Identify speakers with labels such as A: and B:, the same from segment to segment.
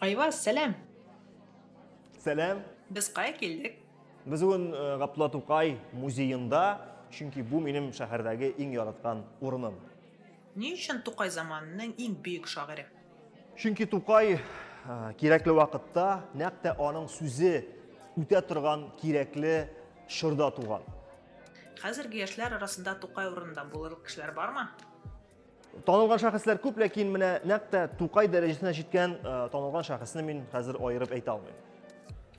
A: Айваз, сәлам!
B: Сәлам! Без кая
A: килдек? Без бүген э,
B: Габдулла Тукай музеенда, чөнки бу минем шәһәрдәге иң яраткан урыным. Ни өчен
A: Тукай заманының иң бөек шагыйре? Чөнки Тукай
B: э, кирәкле вакытта, нәкъ тә аның сүзе үтә торган кирәкле чорда туган. Хәзерге
A: яшьләр арасында Тукай урынында булырлык кешеләр бармы? Танылган
B: шәхесләр күп, ләкин менә нәкъ тә Тукай дәрәҗәсенә җиткән э, танылган шәхесне мин хәзер аерып әйтә алмыйм.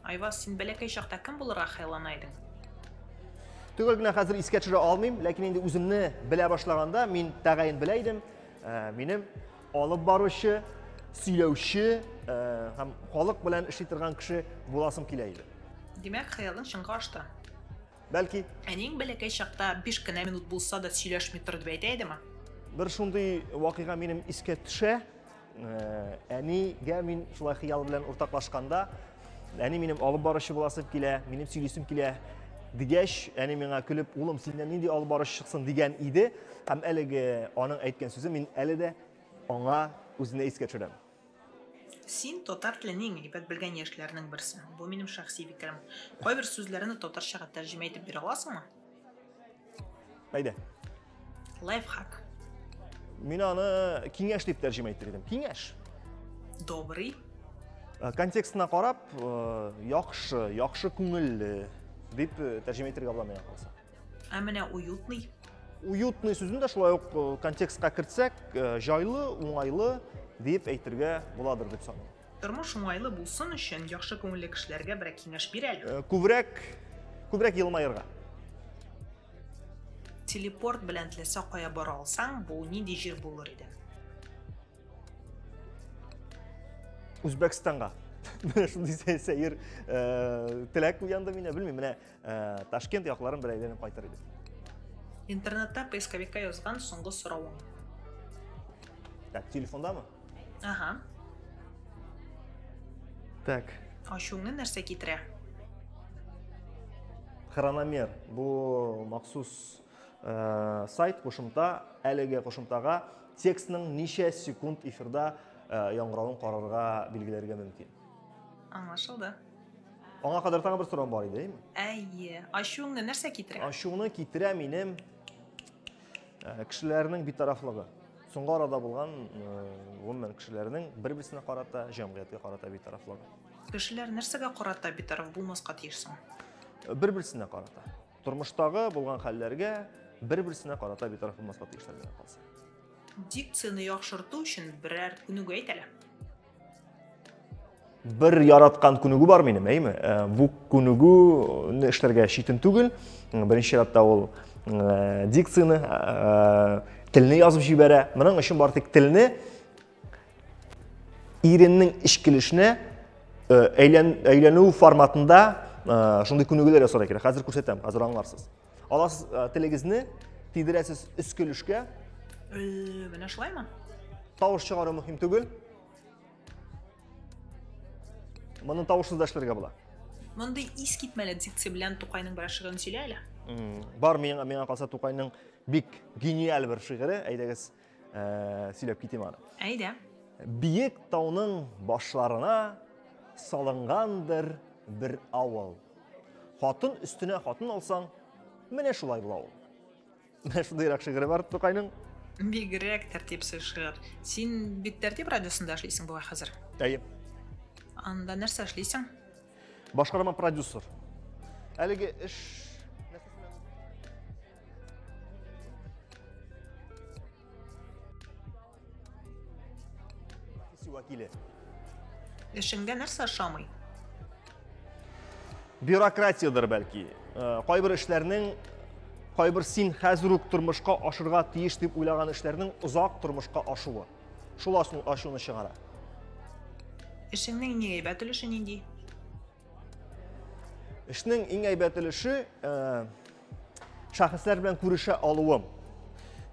B: Айваз, син
A: бәләкәй чакта кем булырга хыяллана идең?
B: Төгәл генә хәзер искә төшерә алмыйм, ләкин инде үземне белә башлаганда мин тәгаен белә идем. Э, минем алып баручы, сөйләүче э, һәм халык белән эшли торган кеше буласым килә иде. Димәк, хыялың
A: чынга ашты. Бәлки.
B: Әниең бәләкәй
A: чакта биш кенә минут булса да сөйләшми тор дип әйтә идеме? Бер шундый
B: вакыйга минем искә төшә. Э, әнигә мин шулай хыял белән уртаклашканда, әни минем алып баручы буласым килә, минем сөйлисем килә дигәч, әни миңа көлеп, улым, синнән нинди алып баручы чыксын дигән иде. Һәм әлеге аның әйткән сүзе мин әле дә аңа үзенә искә төшерәм. Син
A: татар телен иң әйбәт белгән яшьләрнең берсе. Бу минем шәхси фикерем. Кайбер сүзләрне татарчага тәрҗемә итеп бирә аласыңмы?
B: Әйдә.
A: Лайфхак.
B: Мин аны киңәш дип тәрҗемә итер идем. Киңәш. Добрый.
A: Э,
B: контекстына карап, э, яхшы, яхшы күңелле дип э, тәрҗемә итәргә була миңа калса. Ә менә
A: уютный. Уютный
B: сүзен дә шулай ук э, контекстка кертсәк, э, җайлы, уңайлы дип әйтергә буладыр дип саныйм. Тормыш уңайлы
A: булсын өчен яхшы күңелле кешеләргә берәр киңәш бир әле. Э, күбрәк
B: күбрәк елмаерга.
A: Телепорт белән теләсә кая бара алсаң, бу нинди җир булыр иде?
B: Үзбәкстанга. Менә шундый сәер э, теләк уянды мине, белмим, менә Ә, Ташкент якларын бер әйләнеп кайтыр идек. Интернетта
A: поисковикка язган соңгы соравың.
B: Так, телефондамы? Ага. Так. Ачуыңны нәрсә
A: китерә?
B: Хрономер. Бу махсус э, сайт кушымта, әлеге кушымтага текстның ничә секунд эфирда э, яңгыравын карарга билгеләргә мөмкин. Аңлашылды. Аңа кадәр тагы бер сорау бар иде, әйме? Әйе. Ачуыңны
A: нәрсә китерә? Ачуны китерә
B: минем э, кешеләрнең битарафлыгы. Соңгы арада булган э, гомумән кешеләрнең бер-берсенә карата, җәмгыятькә карата битарафлыгы. Кешеләр нәрсәгә
A: карата битараф булмаска тиеш соң? Э, бер-берсенә
B: карата. Тормыштагы булган хәлләргә бер-берсенә карата битараф булмаска тиешләр генә калса. Дикцияне
A: яхшырту өчен берәр күнегү әйт әле.
B: бер яраткан күнегү бар минем, әйме? Э, бу күнегүне эшләргә читен түгел. Беренче чиратта ул э, дикцияне, э, телне язып җибәрә. Моның өчен бар тик телне иреннең ишкилешенә әйләнү форматында шундый күнегүләр ясарга кирәк. Хәзер күрсәтәм, хәзер аңларсыз. Аласыз э, телегезне, тидерәсез өскелешкә. Э,
A: менә шулаймы? Тавыш чыгару
B: мөһим түгел. Моны тавышсыз да эшләргә була. Мондый ис
A: китмәле дикция белән Тукайның бер шигырен сөйлә әле. Бар миңа
B: миңа калса Тукайның бик гениаль бер шигыре, әйдәгез. Ә, сөйләп китим аны. Әйдә.
A: Биек
B: тауның башларына салынгандыр бер авыл. Хатын өстенә хатын алсаң, менә шулай була ул. Менә шундыйрак шигыре бар Тукайның. Бигрәк
A: тәртипсез шигырь. Син бит тәртип радиосында эшлисең бугай хәзер. Әйе.
B: Анда
A: нәрсә эшлисең? Башкарма
B: продюсер. Әлеге эш вәкиле.
A: Эшеңдә нәрсә ошамый?
B: Бюрократиядер бәлки. Э, кайбер эшләрнең кайбер син хәзер үк тормышка ашырга тиеш дип уйлаган эшләрнең озак тормышка ашуы. Шул асыл ашуны чыгара.
A: Эшеңнең иң әйбәт өлеше нинди?
B: Эшнең иң әйбәт өлеше э, шәхесләр белән күрешә алуым.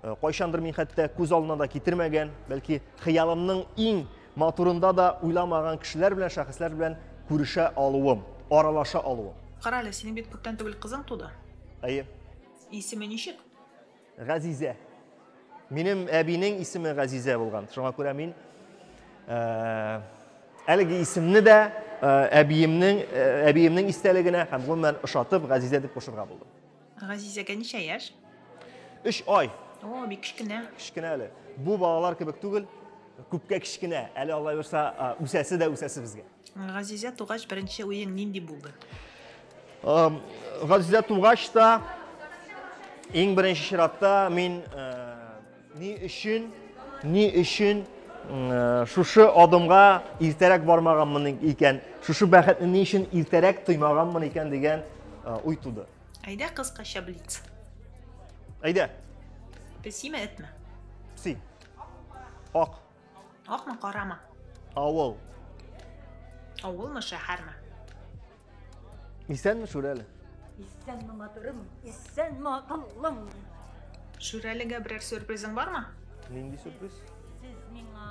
B: Э, кайчандыр мин хәтта күз алдына да китермәгән, бәлки хыялымның иң матурында да уйламаган кешеләр белән, шәхесләр белән күрешә алуым, аралаша алуым. Кара әле, синең бит
A: күптән түгел кызың туды. Әйе.
B: Исеме
A: ничек? Газизә.
B: Минем әбинең исеме Газизә булган. Шуңа күрә мин э, әлеге исемне дә э, әбиемнең э, әбиемнең истәлегенә һәм гомумән ошатып Газизә дип кушырга булдым. Газизәгә ничә
A: яшь? 3
B: ай. О, бик кечкенә.
A: Кечкенә әле.
B: Бу балалар кебек түгел, күпкә кечкенә. Әле Алла бирса, үсәсе дә үсәсе безгә. Газизә тугач
A: беренче уең нинди булды?
B: Газизә тугач та, иң беренче чиратта мин ни өчен, ни өчен шушы адымга иртәрәк бармаганмын икән, шушы бәхетне ни өчен иртәрәк тоймаганмын икән дигән уй туды. Әйдә кыскача
A: блиц. Әйдә. Песиме, этме? Пси.
B: Ак. Акмы,
A: карамы? Авыл. Авылмы, шәһәрме?
B: Исәнме, Шүрәле? Исәнме,
C: матурым? Исәнме, акыллым?
A: Шүрәлегә берәр сюрпризың бармы? Нинди сюрприз?
B: Сез миңа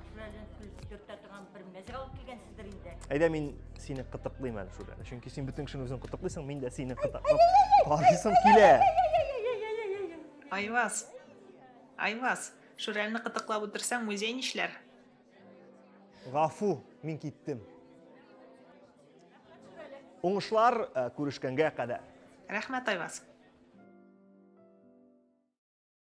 C: Шүрәлен көлдертә торган бер мәзәк алып килгәнсездер инде. Әйдә мин сине
B: кытыклыйм әле, Шүрәле. Чөнки син бөтен кешене үзең кытыклыйсың, мин дә сине кытыклап карыйсым килә. Айваз.
A: Айваз. Шүрәлне кытыклап утырсаң, музей нишләр? Гафу,
B: мин киттем. Уңышлар, күрешкәнгә
A: кадәр.
B: Рәхмәт, Айваз.